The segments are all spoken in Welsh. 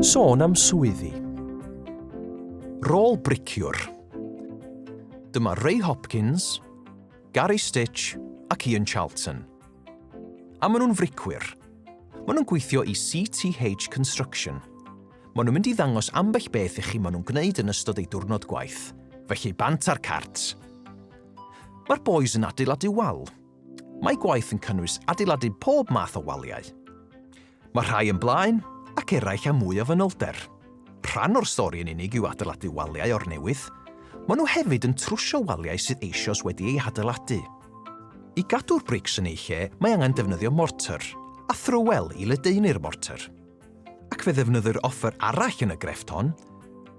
Sôn am swyddi. Rôl briciwr. Dyma Ray Hopkins, Gary Stitch ac Ian Charlton. A maen nhw'n fricwyr. Maen nhw'n gweithio i CTH Construction. Maen nhw'n mynd i ddangos ambell beth i chi maen nhw'n gwneud yn ystod eu diwrnod gwaith. Felly bant ar cart. Mae'r boys yn adeiladu wal. Mae gwaith yn cynnwys adeiladu pob math o waliau. Mae rhai yn blaen, ac eraill â mwy o fanylder. Rhan o'r stori yn unig yw adeiladu waliau o'r newydd, maen nhw hefyd yn trwsio waliau sydd eisoes wedi eu hadeiladu. I gadw'r brics yn eu lle, mae angen defnyddio mortar, a thrywel i ledaenu'r mortar. Ac fe ddefnyddir offer arall yn y grefft hon,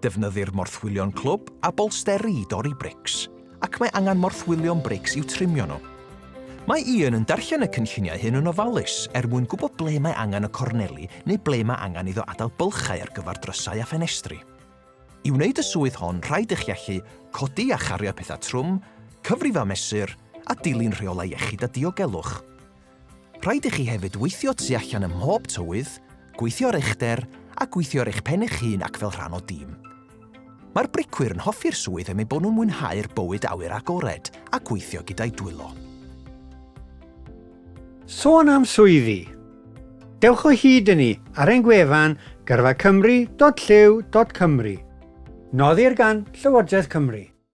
Defnyddir morthwylion clwb a bolsteri i dorri brics, ac mae angen morthwylion brics i'w trimio nhw. Mae Ian yn darllen y cynlluniau hyn yn ofalus er mwyn gwybod ble mae angen y corneli neu ble mae angen iddo adael bylchau ar gyfer drysau a ffenestri. I wneud y swydd hon rhaid i chi allu codi a chario pethau trwm, cyfrifo a mesur, a dilyn rheolau iechyd a diogelwch. Rhaid i chi hefyd weithio tu allan ym mhob tywydd, gweithio ar eich der a gweithio ar eich pen eich hun ac fel rhan o dîm. Mae'r bricwyr yn hoffi'r swydd am eu bod nhw'n mwynhau'r bywyd awyr agored a gweithio gyda'u dwylo. Sôn am swyddi. Dewch o hyd i ni ar ein gwefan gyrfacymru.llyw.cymru. Noddir gan Llywodraeth Cymru.